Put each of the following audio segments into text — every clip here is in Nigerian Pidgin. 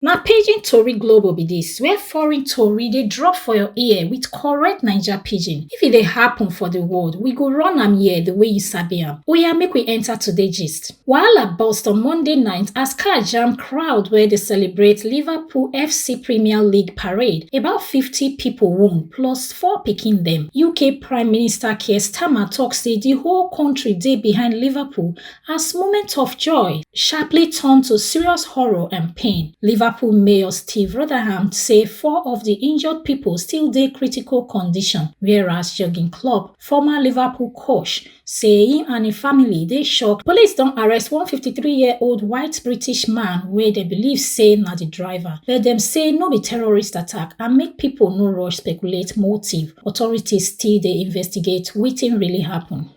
Na pidgin tori globo be dis where foreign tori dey drop for your ear with correct Naija pidgin. If e dey happen for the world, we go run am here the way you sabi am. Oya make we enter today gist. Wahala burst on Monday night as car jam crowd wey dey celebrate Liverpool FC Premier League parade. About 50 people wound plus four pikin dem. UK Prime Minister Keir Starmer talk say the whole country dey behind Liverpool as moments of joy sharply turned to serious horror and pain. Liverpool Mayor Steve Rotherham say four of the injured people still dey critical condition, whereas Jurgen Klopp, former Liverpool coach, say him and him family dey shocked. Police don arrest one 53-year-old white British man wey dem believe say na the driver, but dem say no be terrorist attack and make people no rush speculate motive. Authorities still dey investigate wetin really happen.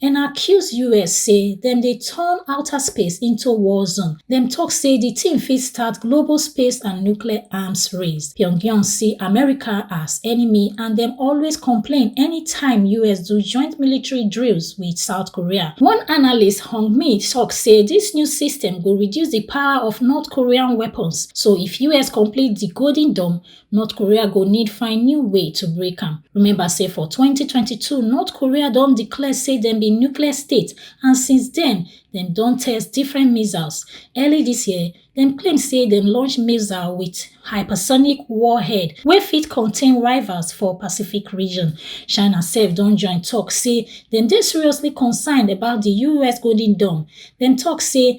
Dem accuse us say dem dey turn outer space into war zone, dem tok say di tin fit start global space and nuclear arms race. Pyongyang see America as enemy and dem always complain anytime us do joint military drills wit South Korea. One analyst, Hong Mi, tok say dis new system go reduce di power of North Korean weapons, so if us complete di Golden Dome, north korea go need find new way to break am remember say for 2022 north korea don declare say dem be nuclear state and since den dem don test different missiles early dis year dem claim say dem launch missile wit hypersonic warhead wey fit contain rivals for pacific region china sef don join tok say dem dey seriously concerned about di us golden dome dem tok say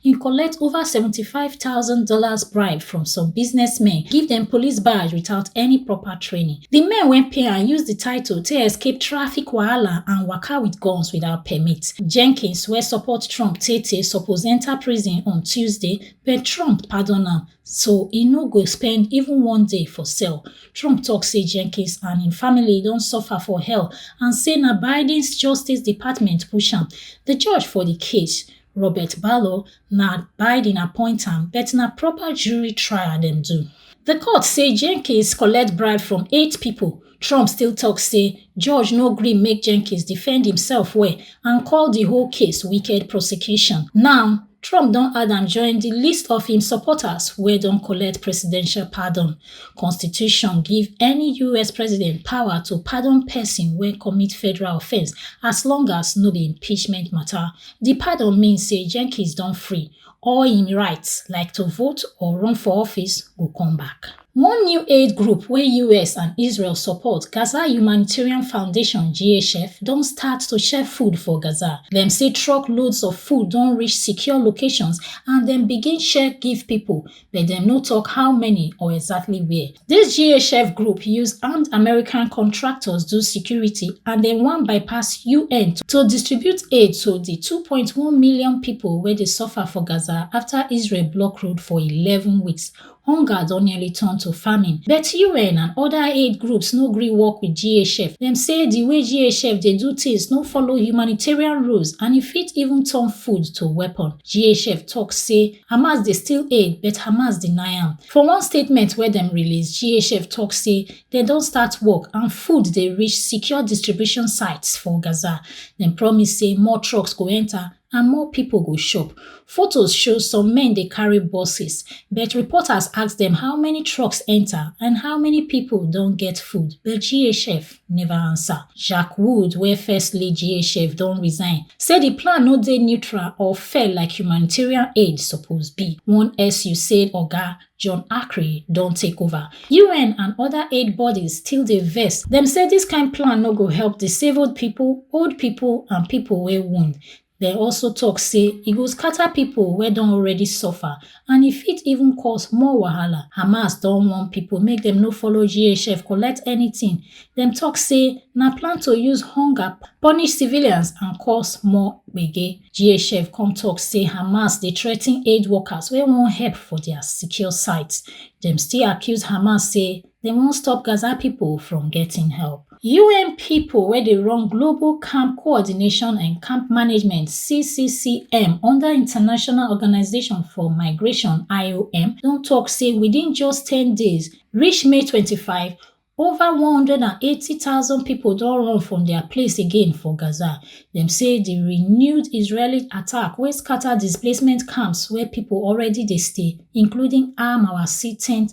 He collect over seventy five thousand dollars bribe from some businessmen, give dem police badge without any proper training. Di men wey pay am use di title take escape traffic wahala and waka wit guns without permit. Jenkins wey support Trump tey-tey suppose enta prison on Tuesday but Trump pardon am so e no go spend even one day for cell. Trump tok say Jenkins and im family don suffer for hell and say na Biden's Justice Department push am. Di judge for di case, Robert Barlow na Biden appoint am, but na proper jury trial dem do. The court say Jenkins collect bribe from eight people. Trump still talk say judge no gree make Jenkins defend himself well and call the whole case wicked prosecution. Now, Trump don add am join the list of im supporters wey don collect presidential pardon. Constitution give any US president power to pardon person wey commit federal offence as long as no be impeachment matter. Di pardon mean say Jenkins don free, all im rights like to vote or run for office go come back. One new aid group wey US and Israel support, Gaza Humanitarian Foundation, GHF, don start to share food for Gaza. Dem say truck loads of food don reach secure locations and dem begin share give pipo, but dem no tok how many or exactly where. Dis GHF group use armed American contractors do security and dem wan bypass UN to distribute aid to di two point one million pipo wey dey suffer for Gaza afta Israel block road for eleven weeks. Hunger don nearly turn to famine, but UN and oda aid groups no gree work wit GHF. Dem say di way GHF dey do tins no follow humanitarian rules and e fit even turn food to weapon. GHF tok say Hamas dey steal aid but Hamas deny am. For one statement wey dem release, GHF tok say dem don start work and food dey reach secure distribution sites for Gaza. Dem promise say more trucks go enter and more pipo go chop. Fotos show some men dey carry buses, but reporters ask dem how many trucks enter and how many pipo don get food, but GHF neva answer. Jack Wood, wey first lead GHF, don resign, say di plan no dey neutral or fair like humanitarian aid suppose be. One SUSAID oga, John Akri, don take over. UN and oda aid bodies still dey vex. Dem say dis kain plan no go help disabled pipo, old pipo and pipo wey wound. Dem also talk say e go scatter pipo wey don already suffer and e fit even cause more wahala. Hamas don warn pipo make dem no follow GHF collect anything. Dem talk say na plan to use hunger punish civilians and cause more gbege. GHF come talk say Hamas dey threaten aid workers wey wan help for dia secure sites. Dem still accuse Hamas say Dem wan stop Gaza pipo from getting help. UN pipo wey dey run Global Camp Coordination and Camp Management, CCCM, under International Organisation for Migration, IOM, don tok say within just ten days, reach May twenty five, over one hundred and eighty thousand pipo don run from dia place again for Gaza. Dem say di renewed Israeli attack wey scata displacement camps where pipo already dey stay, including Al-Mawasi tent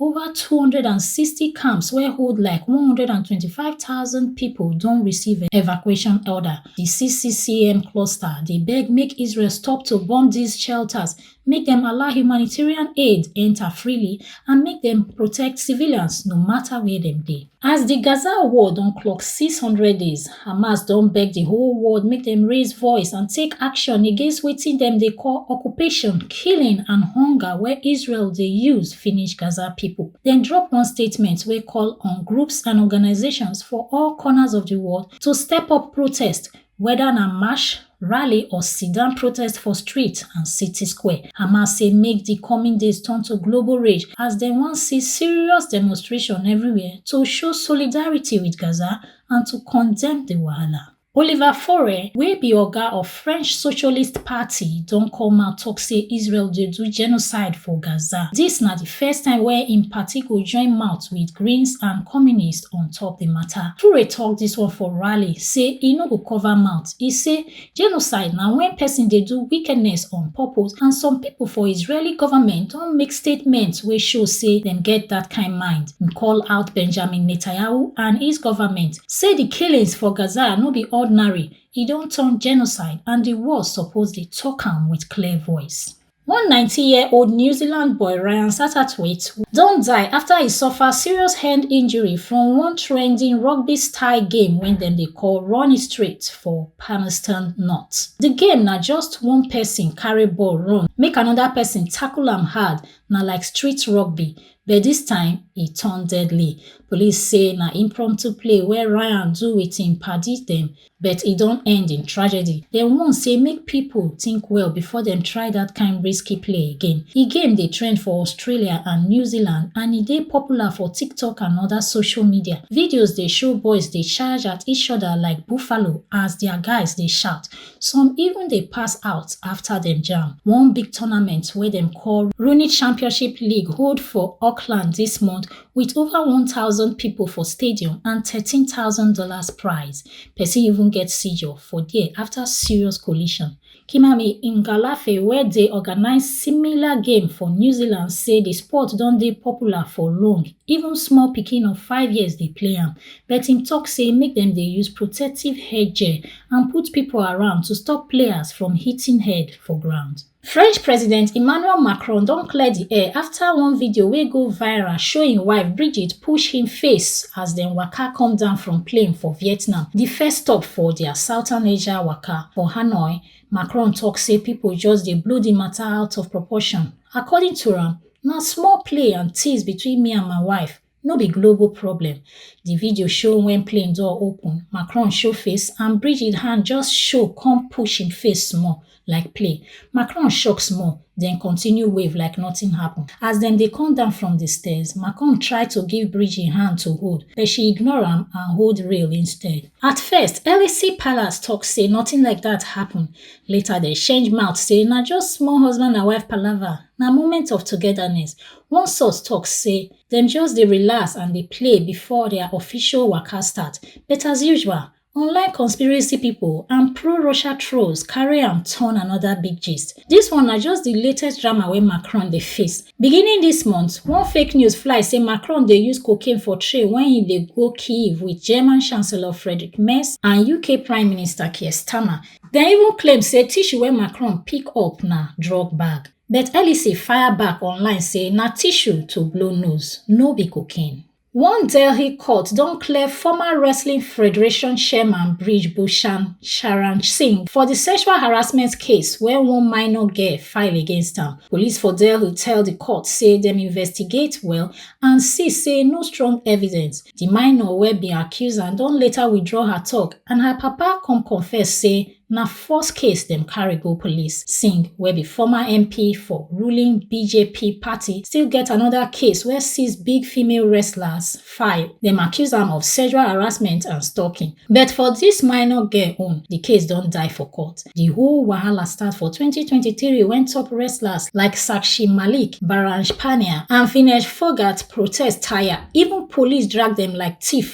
Ova two hundred and sixty camps wey hold like one hundred and twenty five thousand pipo don receive evacuation order. Di CCCM cluster dey beg make Israel stop to bomb dis shelters, make dem allow humanitarian aid enta freely and make dem protect civilians no mata where dem dey. As di Gaza war don clock 600 days, Hamas don beg di whole world make dem raise voice and take action against wetin dem dey call occupation, killing and hunger wey Israel dey use finish Gaza pipo. Dem drop one statement wey call on groups and organisations for all corners of di world to step up protest Weda na march, rally or sit-down protest for street and city square, Hamas say make di coming days turn to global rage as dem wan see serious demonstration everywhere to show solidarity with Gaza and to condemn di wahala. Oliver Faure, wey be oga of French Socialist Party, don come out tok say Israel dey do genocide for Gaza. Dis na di first time wey im party go join mouth with Greens and Communists act on top di mata. Toure tok dis one for rally say e no go cover mouth. E say genocide na wen pesin dey do wickedness on purpose and some pipo for Israeli goment don make statement wey show say dem get dat kain mind. Im call out Benjamin Netanyahu and his goment, say di killings for Gaza no be ordinary, e don turn genocide and di world suppose dey tok am wit clear voice. One 19-year-old New Zealand boy, Ryan Satterthwaite, don die after he suffer serious hand injury from one trending rugby style game when dem dey call Run It Straight for Palmerston North. The game na just one person carry ball run make another person tackle am hard, na like street rugby, but this time e turn deadly. Police say na impromptu play wey Ryan do with im padi dem but e don end in tragedy dem warn say make pipo tink well before dem try dat kain risky play again di game dey trend for australia and new zealand and e dey popular for tiktok and oda social media videos dey show boys dey charge at each oda like buffalo as dia guys dey shout some even dey pass out afta dem jam one big tournament wey dem call rooney championship league hold for auckland dis month Wit ova one thousand pipo for stadium and thirteen thousand dollars prize, pesin even get seizure for there afta serious collision. Kimami Ngalafe wey dey organise similar game for New Zealand say di sport don dey popular for long, even small pikin of five years dey play am, but im tok say make dem dey use protective headgear and put pipo around to stop players from hitting head for ground. French President Emmanuel Macron don clear di air afta one video wey go viral show im wife Brigitte push him face as dem waka come down from plane for Vietnam, di first stop for dia Southern Asia waka. For Hanoi, Macron tok say pipo just dey blow di mata out of proportion. According to am, na small play and tease between me and my wife, No be global problem. Di video show wen plane door open, Macron show face and Brigitte hand just show come push im face small like play. Macron shock small, den continue wave like nothing happen. As dem dey come down from di stairs, Macron try to give Brigitte hand to hold, but she ignore am and hold rail instead. At first, Elysee Palace talk say nothing like dat happen, later dem change mouth say na just small husband and wife palava, na moment of togetherness. One source talk say dem just dey relax and dey play before their official waka start but as usual online conspiracy people and pro-russia trolls carry am turn another big gist dis one na just di latest drama wey macron dey face beginning dis month one fake news fly say macron dey use cocaine for train wen e dey go kyiv with german chancellor friedrich merz and uk prime minister keir starmer dem even claim say tissue wey macron pick up na drug bag But Elise fire back online say na tissue to blow nose, no be cocaine. One Delhi court don clear former Wrestling Federation chairman Brij Bhushan Sharan Singh for di sexual harassment case wey one minor girl file against am. Police for Delhi tell di court say dem investigate well and see say no strong evidence. Di minor wey bin accuse am don later withdraw her tok and her papa come confess say Na first case dem carry go police. Singh, wey be former MP for ruling BJP party, still get anoda case wey six big female wrestlers file. Dem accuse am of sexual harassment and stalking. But for dis minor girl own, di case don die for court. Di whole wahala start for twenty twenty three wen top wrestlers like Sakshi Malik, Baranj Pania and Vinesh Phogat protest tire, even police drag dem like thief.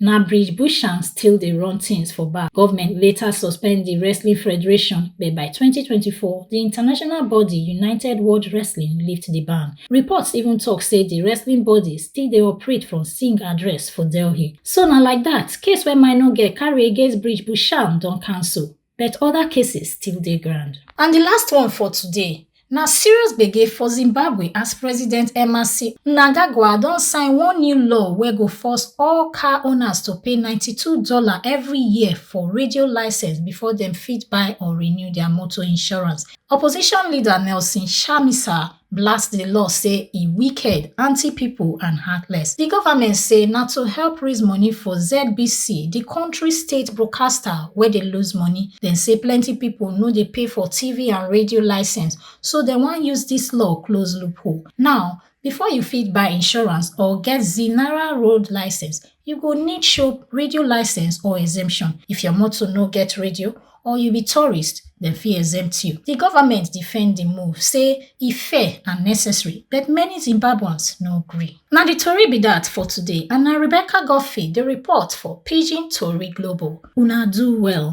Na Bridge Busham still dey run tins for back. Govment later suspend di wrestling federation, but by twenty twenty four, di international body United World Wrestling lift di ban. Reports even tok say di wrestling body still dey operate from Singh address for Delhi. So na like dat, case wey minor girl carry against Bridge Busham don cancel. but oda cases still dey ground. And di last one for today, na serious gbege for Zimbabwe as President Emmerson Mnangagwa don sign one new law wey go force all car owners to pay ninety-two dollars every year for radio license before dem fit buy or renew dia motor insurance. Opposition leader Nelson Chamisa blast di law say e wicked anti-pipo and heartless di goment say na to help raise money for zbc di kontri state broadcaster wey dey lose money dem say plenty pipo no dey pay for tv and radio licence so dem wan use dis law close loophole now before you fit buy insurance or get znara road licence You go need show radio license or exemption. If your motor no get radio or you be tourist, dem fit exempt you. Di government defend di move, say e fair and necessary, but many Zimbabweans no gree. Na di tori be dat for today and na Rebecca Godfrey dey report for Pidgin Tori Global. Una do well.